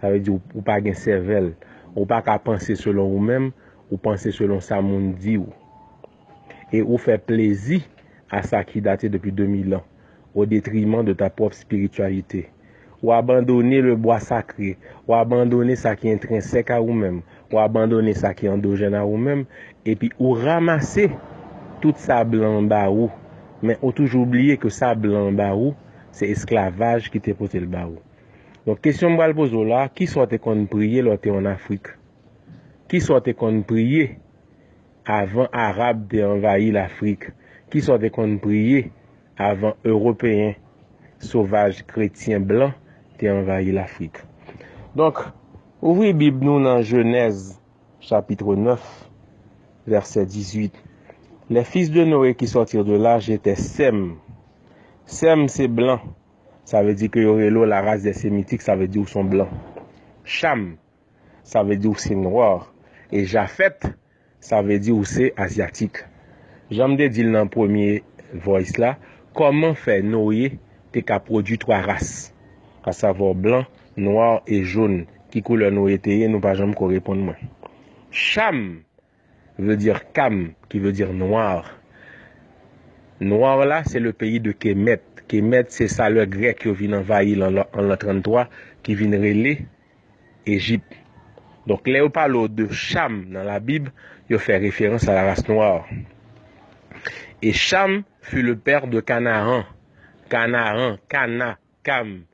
Sa vle di ou pa gen sèvèl. Ou pa ka panse selon ou menm, ou panse selon sa moun di ou. E ou fè plezi a sa ki date depi 2000 an, o detriman de ta pwòp spirityalite. Ou abandone le bwa sakre, ou abandone sa ki entrensèk a ou menm, ou abandone sa ki andojèn a ou menm, epi ou ramase tout sa blan an ba ou, men ou toujou bliye ke sa blan an ba ou, se esklavaj ki te pote l ba ou. Donk kesyon m pral poze w la, ki sa w te konn priye lè w te ann Afrik? Ki sa w te konn priye avan Arab te anvayi Lafrik? Ki sa w te konn priye avan Ewopeyen sovaj kretyen blan te anvayi Lafrik? Donk, ouvri Bib nou nan Jenèz chapitre 9, vèsè 18, Les fils de Noé qui sortirent de l'arche étaient Sèm. Sèm se blan Sa vle di ke yo rele w la race des Sémitiques, sa vle di ou son blan. Cham, sa vle di ou se noir. E Jafet, sa vle di ou se azyatik. Jan m te di l nan premye voice la, kòman fè Noye te ka pwodui 3 ras? A savoir blan, noir e jaune. Ki koulè Noye te ye? Nou pa janm ko reponn mwen. Cham! Veut dire Cam qui veut dire noir. Noir la se le peyi de Kemet. Kemet se sa lè grèk yo vin anvayi l an l'an 33 ki vin rele Ejip. Donk lè yo pale w de Cham nan la bib yo fè referans a la race noire. Et Cham fut le père de Canaan. Canaan, Cana, Cam.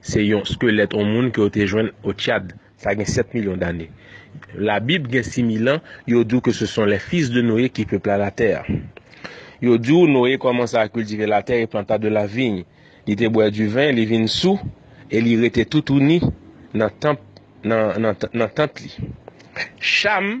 Se yon skelèt yon moun ke yo te jwenn o Tchad, sa gen 7 milyon dane. Labib gen 6 mil an, yo di w ke se son les fils de Noé ki pepla la tè. Yo di w Noé kòmanse a kiltive la tè e planta de la vigne. Li te bwè di vin, li vin sou, e li rete toutouni nan tant li. Cham.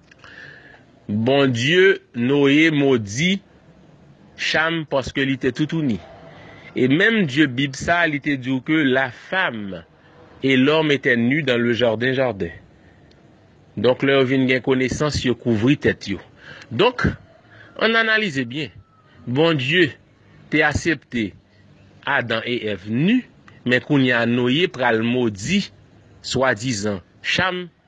Bondye Noye modi Cham paske li te toutouni. E menm Dye Bib sa li te di w ke la fam e lòm etè nu dan le jarden jarden. Donk lè yo vin gen konesans yo kouvri tèt yo. Donk, an analize byen. Bondye te asepte Adan e Ev nu, men kounya Noye pral modi swadizan Cham.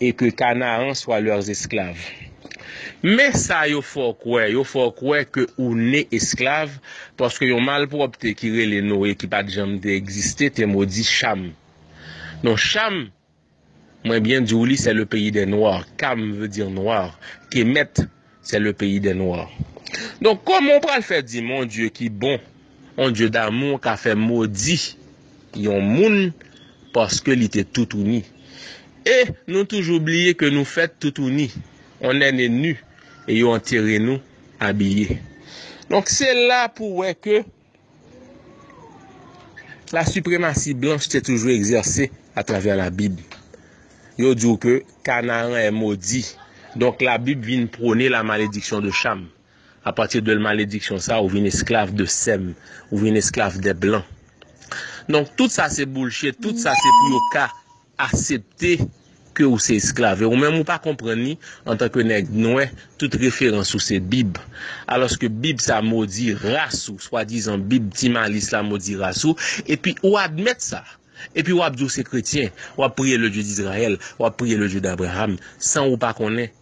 Et que Canaan soit leurs esclaves. Men sa yo fè w kwè, yo fè w kwè ke ou ne esklav, paske yon malpwòpte ki rele Noe ki pa t janm te egziste te modi Cham. Non Cham, mwen byen di w li, c'est le pays des noirs, Cham veut dire noir, Kemet C'est le pays des noirs. Donk kòman w pral fè di m yon Dye ki bon, yon Dye damou ka fè modi yon moun paske li te toutouni? E nou toujou bliye ke nou fèt toutouni, on est né nu e yo antere nou abiye. Donk se la pou wè ke La supremasi blanch te toujou egzèse atravè la bib. Yo diw ke kanaran è modi. Donk la bib vin prone la malediksyon de cham. A pati de malediksyon sa ou vin esklav de sèm. Ou vin esklav de blan. Donk tout sa se boulshe, tout sa se pou yo ka. asepte ke ou se esklav e ou menm ou pa konprann li antan ke nèg nwè tout referans ou se bib alòske bib sa modi ras ou swadizan bib ti malis la modi ras ou epi ou admèt sa epi wap di ou se kretyen wap priye le Dye d'Israël wap priye le Dye d'Abraham san ou pa konnen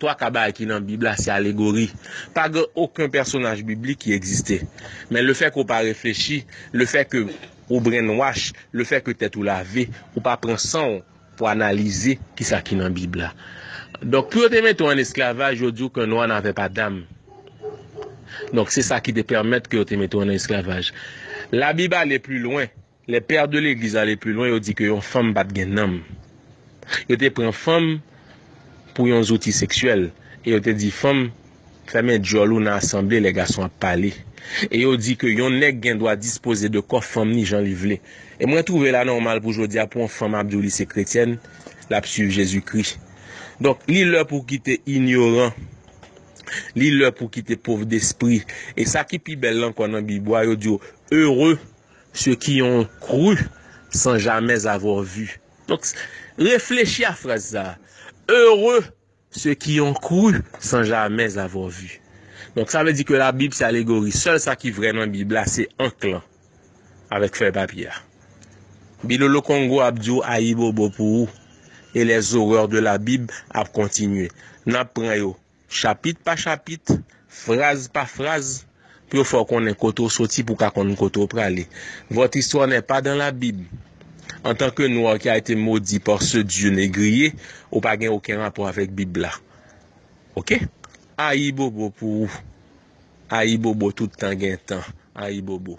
Twa ka bagay ki nan Bib la se alegori. Pa gen oken pèsonaj biblik ki egziste. Men lefè ke w pa reflechi, lefè ke w brainwash, lefè ke tèt ou lave, ou pa pran san w pou analize kisa ki nan Bib la. Donk pou yo te mete w an esklavaj, yo di w ke nwa nave pa dam. Donk se sa ki te pèmèt ke yo te mete w an esklavaj. La Bib ale pli lwen. Les pères de l'église ale plus loin yo di ke yon fanm pat gen nanm. Yo te pran fanm pou yon zouti seksyèl e yo te di fanm fèmen dyòl ou nan asanble lè gason ap pale. E yo di ke yon nèg gen dwa dispoze de kò fanm ni jan li vle. E mwen twouve l anòmal pou jodi a pou yon fanm ap di w li se kretyèn, l ap swiv Jezikri. Donk li lè pou w kite inyoran, li lè pou w kite pov despri. E sa ki pi bèl ankò nan Bib ou a yo di w heureux Ceux qui ont cru sans jamais avoir vu. Donk, reflechi a fraz sa a. Heureux ceux qui ont cru sans jamais avoir vu. Donk, sa vle di ke Labib se alegori. Sèl sa ki vrè nan Bib la se ank lan avèk fèy papye a. Bilolo Kongo ap di w ayibobo pou ou e les horreurs de la Bible ap kontinye. N ap pran yo. Chapit pa chapit, fraz pa fraz, pou yo fè w konnen kote w soti pou w ka konn kote w prale. Votre histoire n'est pas dans la Bible. Antanke nwa ki a ete modi par ce Dieu negriye, ou pa gen oken rapò avèk Bib la. Ok? Ayibobo pou ou. Ayibobo tout tan gen tan. Ayibobo.